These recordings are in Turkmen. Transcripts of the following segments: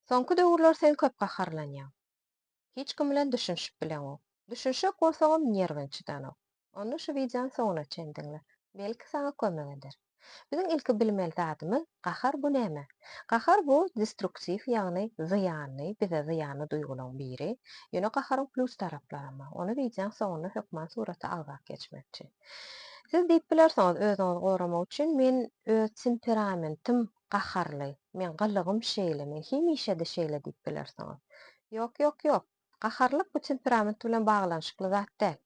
Soňky döwürler sen köp gaharlanýaň. Hiç kim bilen düşünişip bileňok. Düşünişjek bolsaňam nerwiň çydanok. Onda şu wideony soňuna çen diňle. Belki saňa kömek eder. Biziň ilki bilmeli zadymyz gahar bu näme? Gahar bu destruktiw ýagny zyýanly, bize zyýanly duýgulaň biri. Ýöne gaharyň plýus taraplaram bar. Ony wideoň soňunda hökman surata algak geçmekçi. Siz diýip bilersiňiz özüňizi goramak üçin men öz temperamentim gaharly, meň gylygym şeýle, men hemişe-de şeýle diýip bilersiňiz. Ýok, ýok, ýok. Gaharlylyk bu temperament bilen baglanyşykly zat däl.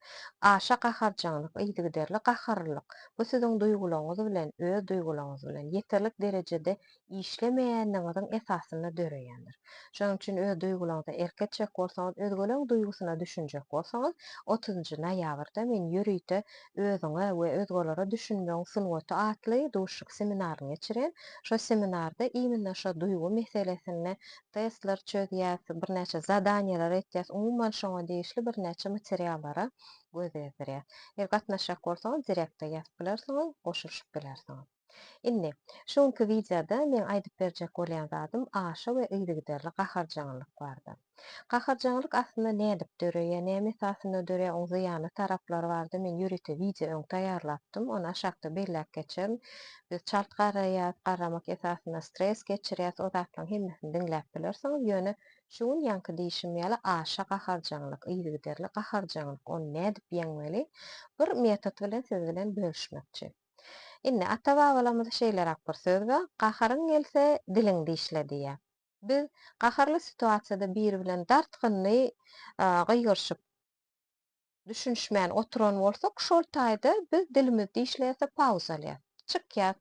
Aşa gaharjaňlyk, yzygiderli gaharlylyk, bu siziň duýgularyňyz bilen, öz duýgularyňyz bilen, ýeterlik derejede işlemeýänligiňiziň esasynda döreýändir. Şonuň üçin öz duýgularyňyza erk etjek bolsaňyz, özgeleriň duýgusyna düşünjek bolsaňyz, otuzynjy noýabrda men ýörite özüňe we özgelere düşünmegiň sungaty atly duşuşyk seminaryny geçiren. Şo seminarda iminne şo duýgy meselesinde testler çözýäs, birnäçe zadaniýeler etýäs, umuman şoňa degişli birnäçe materiallara göz gezdirýäs. Eger gatnaşjak bolsaňyz direktde ýazyp bilersiňiz, goşulyşyp bilersiňiz. Indi, şu günki wideoda meň aýdyp berjek bolýan zadym aşa we yzygiderli gaharjaňlyk bardy. Gaharjaňlyk aslynda nädip döreýär, näme esasynda döreýär, oň zyýanly taraplary bardy, men ýörite wideo öň taýýarlapdym, ony aşakda belläp geçerin. Biz çalt garaýas, garamak esasynda stres geçirýäs, o zatlaň hemmesini diňläp bilersiňiz, ýöne şu gün ýaňky diýşim ýaly aşa gaharjaňlyk, yzygiderli gaharjaňlyk, ony nädip ýeňmeli, bir metod bilen siz bilen bölüşmekçi. Indi ata-babalarymyzda şeýleräk bir söz bar, Gaharyň gelse, diliňi dişle diýýär. Biz gaharly situasiýada biri bilen dartgynly gygyryşyp, düşünişmän oturan bolsak, şol taýda biz dilimizi dişleýäs-de pauz alýas. Çykýas.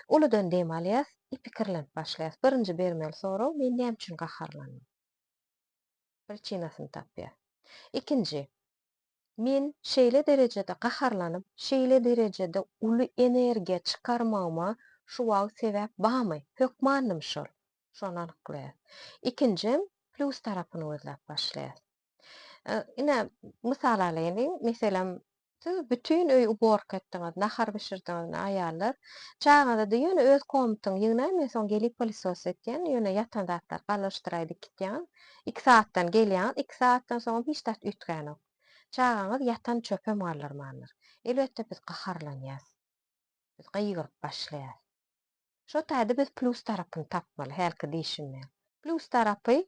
Uludan dem alýas i pikirlenip başlaýas. Birinji bermeli sorag, Men näme üçin gaharlandym? Priçinasyny tapýas. Ikinji, Men şeýle derejede gaharlanyp, şeýle derejede uly energiýa çykarmagyma şu wagt sebäp barmy? Hökmandym şol. Şony anyklaýas. Ikinjem, plýus tarapyny gözläp başlaýas. Ine, mysal alaýyn. Meselem, siz bütin öýi uborka etdiňiz, nahar bişirdiňiz, aýallar. Çagaňyza-da ýöne öz komnatyňy ýygnaý, men soň gelip pylysos etýän, ýöne ýatan zatlary galyşdyraý dikitýän. Iki saatdan gelýäňiz, iki saatdan soňam hiç zat üýtgänok. Çagaňyz ýatan çöpem galdyrmandyr. Elbetde biz gaharlanýas. Biz gygyryp başlaýas. Şo taýda biz plus tarapyny tapmaly, hälki diýşim bilen. Plus tarapy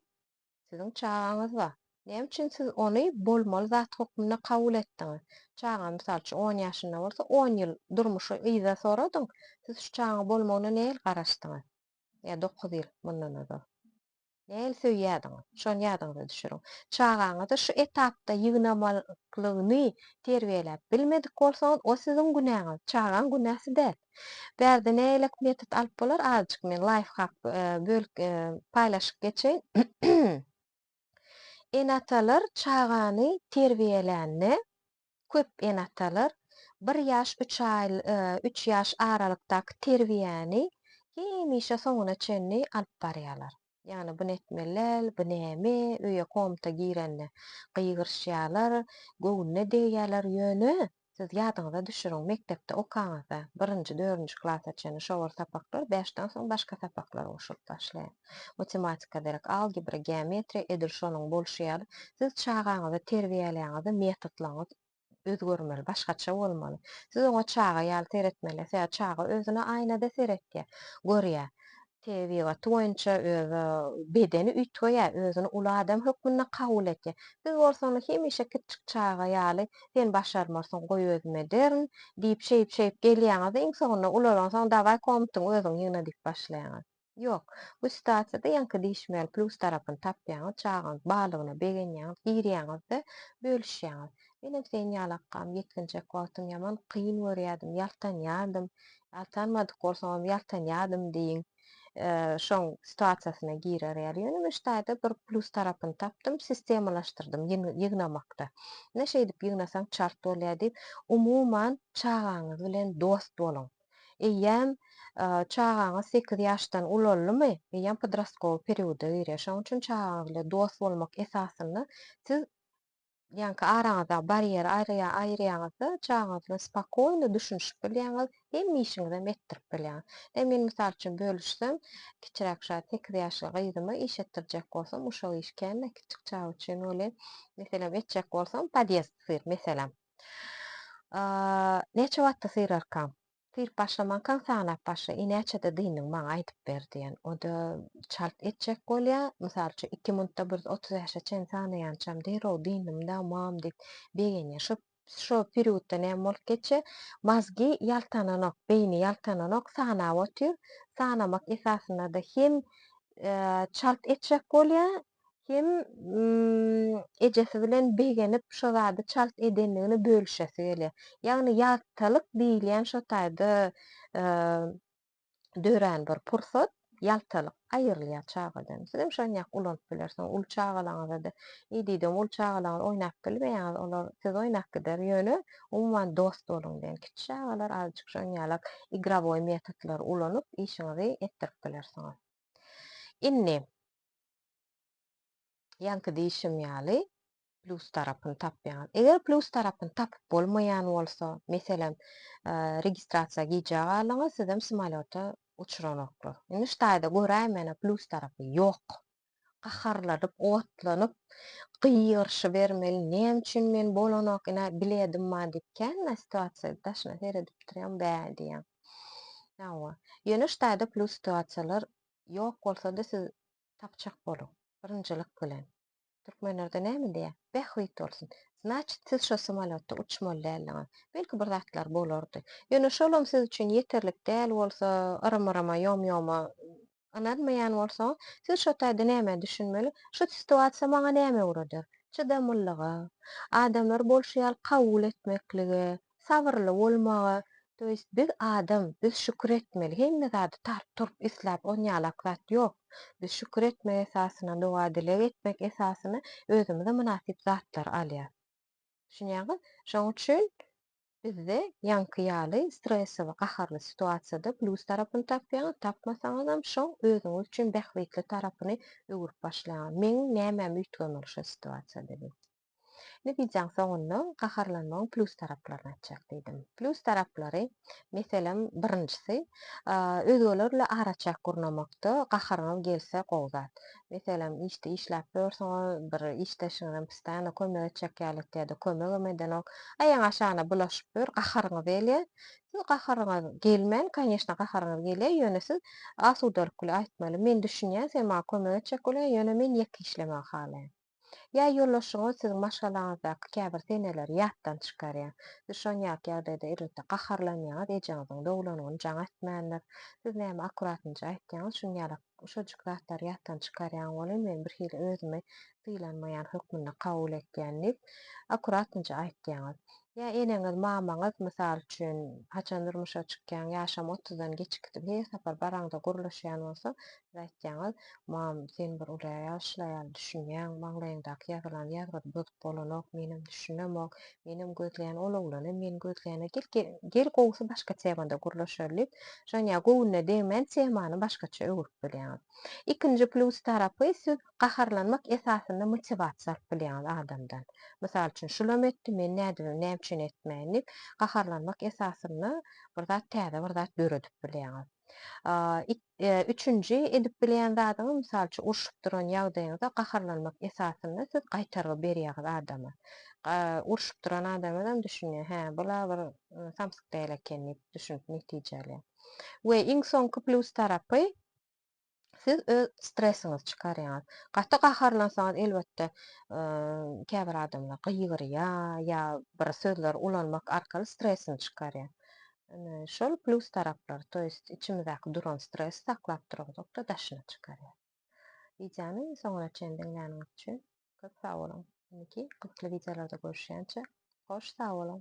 siziň çagaňyz bar. Näme üçin siz ony bolmaly zat hökmünde kabul etdiňiz? Çagaň mysal üçin on ýaşynda bolsa, on ýyl durmuşy yza soradyň, siz şu çagaň bolmagyna nähili garaşdyňyz? Ýa dokuz ýyl mundan ozal. Nähili söýýärdiňiz? Şony ýadyňyza düşüriň. Çagaňyzy şu etapda ýygnamaklygyny terbiýeläp bilmedik bolsaňyz, o siziň günäňiz, çagaň günäsi däl. Bärde nähilek metod alyp bolar, azajyk men laýfhak bölüp paýlaşyp geçeýin. Ene-atalar çagany terbiýelände, köp ene-atalar bir ýaş üç aý üç ýaş aralykdaky terbiýäni hemişe soňuna çenli alyp barýarlar. Ýagny bu netmelel, bu näme, öýe komnata girende gygyryşýarlar, göwnüne degýärler, ýöne siz ýadyňyza düşüriň, mekdepde okaňyzda, birinji, dördünji klasa çenli şo bir sapaklar, bäşden soň başga sapaklar goşulyp başlaýar. matematika derek, algebra, geometriýa edil şonuň bolşy ýaly, siz çagaňyzy terbiýeläňizde metodlaryňyz özgermeli, başgaça bolmaly. Siz oňa çaga ýaly seretmeli, sebäbi çaga özüne aýnada seretýär, görýär. Tebigaty boýunça özi bedeni üýtgeýär, özüni uly adam hökmünde kabul etýär. Siz bolsa ony hemişe kiçijik çaga ýaly, sen başarmarsyň, goý özüm ederin diýip, şeýip-şeýip gelýäňiz-de, iň soňunda ulalanyňsoň, dawaý komntyňy özüň ýygna diýip başlaýaňyz. Ýok. Bu situasiýada ýaňky diýişmeli plus tarapyny tapýaňyz, çagaňyz barlygyna begenýäňiz, girýäňiz-de, bölüşýäňiz. Menem sen ýaly akgam, ýetginjek wagtym ýaman kyn görýärdim, ýaltanýardym. Ýaltanmadyk bolsagam ýaltanýardym diýiň. Şoň situasiýasyna girer ýaly. Ýöne men şu taýda bir plus tarapyny tapdym, sistemalaşdyrdym ýygnamakda. Ine şeýdip ýygnasaň çalt bolýar diýip, umuman çagaňyz bilen dost boluň. eýýäm çagaňyz sekiz ýaşdan ulaldymy, eýýäm podrastkowy perioda girýär. Şonuň üçin çagaňyz bilen dost bolmak esasynda siz ýaňky araňyzdaky barýeri aýyrýaňyzda, çagaňyz bilen spokojno düşünişip bilýäňiz, hemme işiňizem etdirip bilýäňiz. Ine, men mysal üçin bölüşsem, kiçiräk şa sekiz ýaşly gyzyma iş etdirjek bolsam, uşak iş kän-ä kiçik çaga üçin welin, meselem, etjek bolsam, podýezd syr, meselem. Näçe wagtda syrarkaň? Syryp başlamankaň sanap başla, i näçede dyndyň maňa aýdyp ber diýen. O-da çalt etjek bolýa, mysal üçin iki munutda bir otuz bäşe çen sanaýançam derrew dyndym-da mam diýip begenýä. Şo şo periodda näme bolup geçýä? Mazgi ýaltananok, beýni ýaltananok, sanap otyr. Sanamak esasynda-da hem çalt etjek bolýa, Hem ejesi bilen begenip şo zady çalt edendigini bölüşesi gelýär. Ýagny ýaltalyk diýilýän şo taýda dörän bir pursat, ýaltalyk aýrylýar çagadan. Siz hem şony ýaly ulanyp bilersiňiz. Uly çagalaryňyzada idide uly çagalaryňyz oýnap bilmeýäňiz, olar siz oýnap gider. Ýöne umuman dost boluň diýen. Kiçi çagalar azajyk şoň ýalak igrowoý metodlary ulanyp işiňizi etdirip bilersiňiz. Indi Ýaňky diýşim ýaly, plus tarapyny tapýaňyz. Eger plus tarapyny tapyp bolmaýan bolsa, meselem, registrasiýa gijä galyňyz, sizem samolýota uçranoklar. Indi şu taýda göräý menä plus tarapy ýok. Gaharlanyp, otlanyp, gygyryşybermeli, näme üçin men bolanok, ine, biledim bar diýip, kän men situasiýa daşyna seredip durýan, bä diýýän. Hawa, ýöne şu taýda plus situasiýalar Ýok bolsady siz tapjak boluň. Birinjilik bilen. Türkmenlerde näme diýýär? Bähbit bolsun. Znaçit siz şo samolýotda uçmaly däldiňiz. Belki bir zatlar bolardy. Ýöne şolam siz üçin ýeterlik däl bolsa, yrym-yryma, ýom-ýoma ynanmaýan bolsaňyz, siz şo taýda nämä düşünmeli? Şu situasiýa maňa näme öwreder? Çydamlylyga, adamlary bolşy ýaly kabul etmeklige, Sabyrly bolmaga, to ýest biz adam, biz şükür etmeli, hemme zady tart turup isläp on ýalak zat ýok. Biz şükür etmek esasyna, doga dileg etmek esasyna özümize mynasyp zatlary alýas. Düşünýäňiz? Şoň üçin bizde ýaňky ýaly stresse we gaharly situasiýada plus tarapyny tapýaňyz, tapmasaňyzam şoň özüňiz üçin bähbitli tarapyny öwürip başlaýaňyz. Meň nämäm üýtgemeli şo situasiýada diýip. Indi wideoň soňunda gaharlanmagyň plýus taraplaryny aýtjak diýdim. Plýus taraplary, meselem, birinjisi, özgeler bilen araçäk gurnamakda gaharyňyz gelse gowy zat. Meselem, işde işläp ýörsüňiz, bir işdeşiňizem postaýano kömek etjek ýalydy ýa-da kömegem edenok. Aýagyň aşagyna bulaşyp ýör, gaharyňyz gelýär. Siz gaharyňyz gelmän, konýeşne, gaharyňyz gelýär, ýöne siz asudalyk bilen aýtmaly, Men düşünýän, sen maňa kömek etjek bolýaň, ýöne men ýeke işlemegi halaýan. Ýa ýoldaşyňyz siziň maşgalaňyzdaky käbir seneleri ýatdan çykarýar. Siz şon ýaly ýagdaýda elbetde gaharlanýaňyz, ejeňiziň dogulanyny jaň etmändir. Siz näme akuratynja aýtýaňyz, şun ýalak şojik zatlary ýatdan çykarýaň welin men bir hili özümi sylanmaýan hökmünde kabul etýän diýip akuratynja aýtýaňyz. Ýa eneňiz, mamaňyz mysal üçin haçan durmuşa çykýaň, ýaşam otuzdan geçikdi, her sapar baraňda gürleşýän bolsa, Siz aýtýaňyz, Mam, sen bir uly ýaşly aýal, düşünýäň, maňlaýyňdaky ýazylan ýazgydy bozup bolanok, menem düşünemok, menem gözleýän ol oglany, men gözleýän-ä, gel, gel, gel gowusy başga temada gürleşeli diýip, Žanýa göwnüne degmän temany başgaça öwrüp bilýäňiz. Ikinji plýus tarapy, siz gaharlanmak esasynda motiwasiýa alyp bilýäňiz adamdan. Mysal üçin, şulam etdi, men nädibem, näme üçin etmäýin diýip, gaharlanmak esasynda bir zat, täze bir zat döredip bilýäňiz. Üçünji, edip bilýän zadyňyz, mysal üçin, urşup duran ýagdaýyňyzda gaharlanmak esasynda siz gaýtargy berýäňiz adama. Urşup duran adamyzam düşünýär, hä, bul-a bir samsyk däl eken diýip düşünip netije alýar. We iň soňky plýus tarapy, siz öz stresiňizi çykarýaňyz. Gaty gaharlansaňyz, elbetde, käbir adamlar gygyrýar ýa bir sözleri ulanmak arkaly stresini çykarýar. Şol plus taraplary, to ýest içimizdäki duran stresi saklap duruzok-da daşyna çykarýar. Wideony soňuna çen diňläniňiz üçin köp sag boluň. Indiki gyzykly wideolarda görüşýänçä hoş sag boluň.